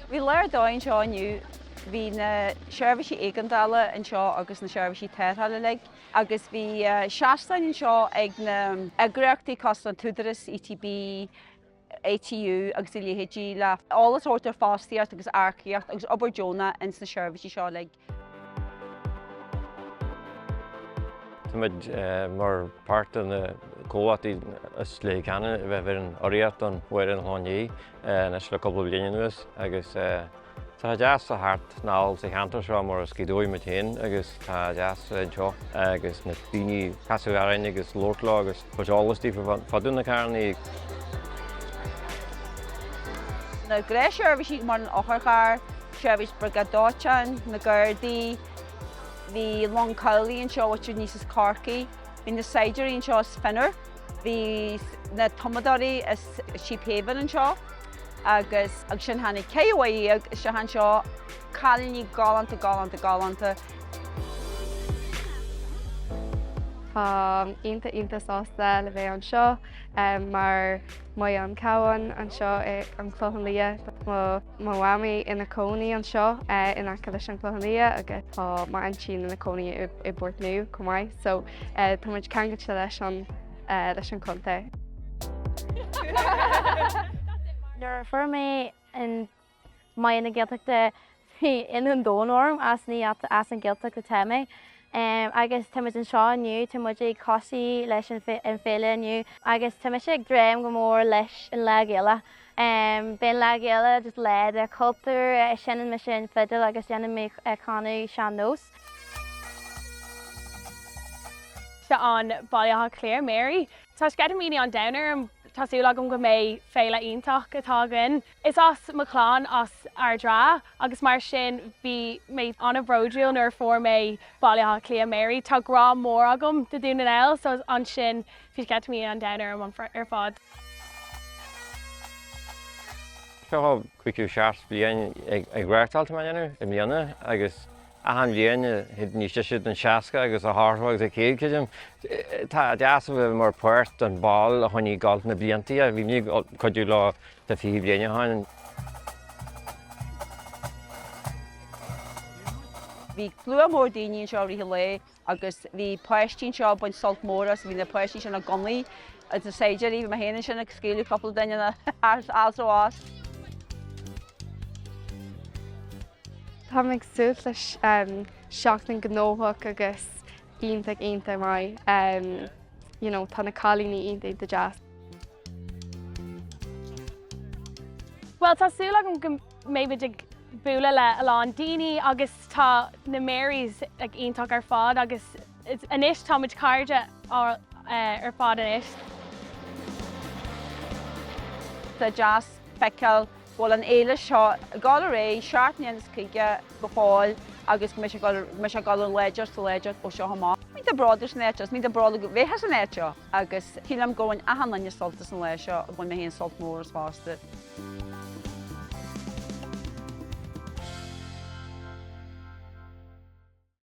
Bhí lá ar dóigh anseo inniu bhí na seirbhísí éigeandála anseo agus na seirbhísí tarrthála uilig agus bhí seastáin anseo ag na eagraíochtaí cosanta, an tÚdarás, ETB, ATU agus a leithéidí le eolas a thabhairt ar fostaíocht agus earcaíocht agus obair deonach ins na seirbhísí seo uilig. Tá muid mar páirt de na comhlachtaí is laige cheana a bheith ar an urraíocht don Mháire an Chlocháin Léith anois le cúpla bliain anuas agus tá deas a theacht anall sa cheantar seo mar is as Gaoth Dobhair muid féin agus tá deas anseo agus na daoine casadh orainn agus labhairt leo agus Chuir sé eolas di faoi fadú na carranna. na grésheirbhísí mar an otharcharr, seirbhís Briogáid Dóiteáin, na Gardaí, bhí long cabhlaigh anseo áitiúil aníos as Corcaigh, bhí na saighdiúirí anseo as Fionnabhair, bhí na tumadóirí as Sheephaven anseo agus agus ansin tháinig ceathair déag isteach anseo, cailíní galánta galánta galánta. Tá mé iontach iontach sásta le bheith anseo mar Mary an Cabhán anseo ar an Chlochán Liath. Tá mo mhamaí ina cónaí anseo in aice leis an Chlochán Liath agus tá m'aintín ina cónaí i bPort Nua chomh maith so tá muid ceangailte leis an leis an contae. Nuair a fuair mé an Mary na Gaeltachta Bhí ionadh an domhain orm as ní as an Ghaeltacht atá mé agus tá muid anseo inniu, tá muid ag tosú leis an féile inniu agus tá mise ag dréim go mór leis an Lá Gaeilge. Beidh an Lá Gaeilge just lá de chultúr, seineann mise an fidil agus déanann mé canadh sean-nós. Seo an Baile Átha Cliath Mary. Tá sceitimíní an domhain orm, tá súil agam go mbeidh féile iontach atá againn. Is as mo chlann as Ard an Rátha agus mar sin bhí mé an-bhródúil nuair a fuair mé Baile Átha Cliath, Mary. Tá grá mór agam do Dún na nGall so ansin bhí sceitimíní an domhain orm ar fad. Seo caoga seacht bliain ag reáchtáil atá muid a dhéanamh i mbliana agus achan bhliain théid níos deise don seasca agus ar aghaidh go céad creidim. Tá deas a bheith mar páirt don ball a choinnigh ag gabháil thar na bliantaí a bhí mé ag cuidiú leo Tá fiche bliain ó shin. Bhí slua mór daoine anseo i rith an lae agus bhí páistí anseo ag baint sult mór as. Bhí na páistí sin ag gunnaí na saighdiúirí. Bhí mé féin ansin ag scaoileadh cúpla duine na h-easraí as. Táim ag súil le seachtain gnóthach agus Iontach iontach maith ehm you know tá na cailíní iontach iontach deas. Bhuel tá súil agam go mbeimid ag bualadh le a lán daoine agus tá na Marys ag iontach ar fad agus anois tá muid cairde ar fad anois. Tá sé deas feiceáil bhfuil an fhéile seo ag dul ar aghaidh i ndiaidh seacht ndéag chuige go fóill agus go mbeidh sé ag dul ó láidir go láidir ó seo amach. Muid bródúil san áit seo, is muid bródúil a bheith san áit seo agus sílim gur bhain achan duine sult as an lá seo, ach bhain mé féin sult mór as fosta.